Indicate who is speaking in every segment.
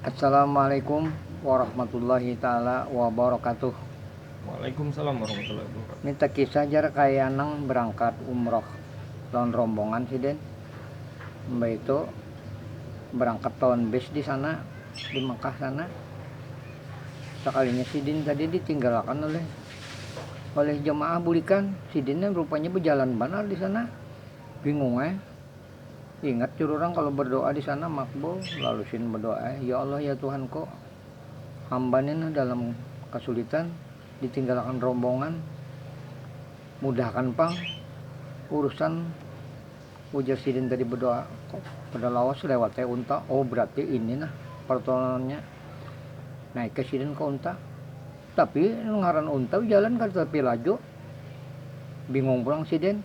Speaker 1: Assalamualaikum warahmatullahi taala wabarakatuh. Waalaikumsalam warahmatullahi wabarakatuh. Ni takisah jar kaya nang berangkat umroh lawan rombongan sidin, mbaitu berangkat lawan bis di sana di Mekah sana, sakalinya sidin tadi ditinggalakan oleh oleh jamaah bulikan, sidin rupanya bejalan banar di sana, bingung ai. Ingat jar urang kalo berdoa disana makbul, lalu Shin berdoa, Ya Allah ya Tuhanku, hamba ni nah dalam kasulitan, ditinggalakan rombongan, mudahkan pang urusan ujar sidin tadi berdoa, kok kada lawas lewat ai unta, oh berarti ini nah pertolonannya, naik ai sidin ka unta, tapi ngaran unta jalan kada tapi laju, bingung pulang sidin.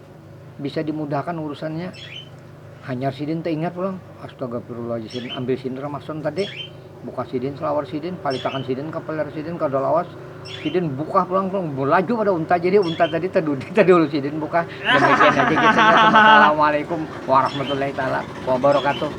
Speaker 1: bisa dimudahkan urusannya hanyar sidin taingat pulang astagafirulajizim ambil sidin ramason tadi buka sidin selawar sidin palitakan sidin ka paler sidin kada lawas sidin buka pulang pulang balaju pada unta jadi unta tadi tadudi tadi ulu sidin buka demikian haja kisahnya wassalamualaikum warahmatullahi taala wabarakatuh.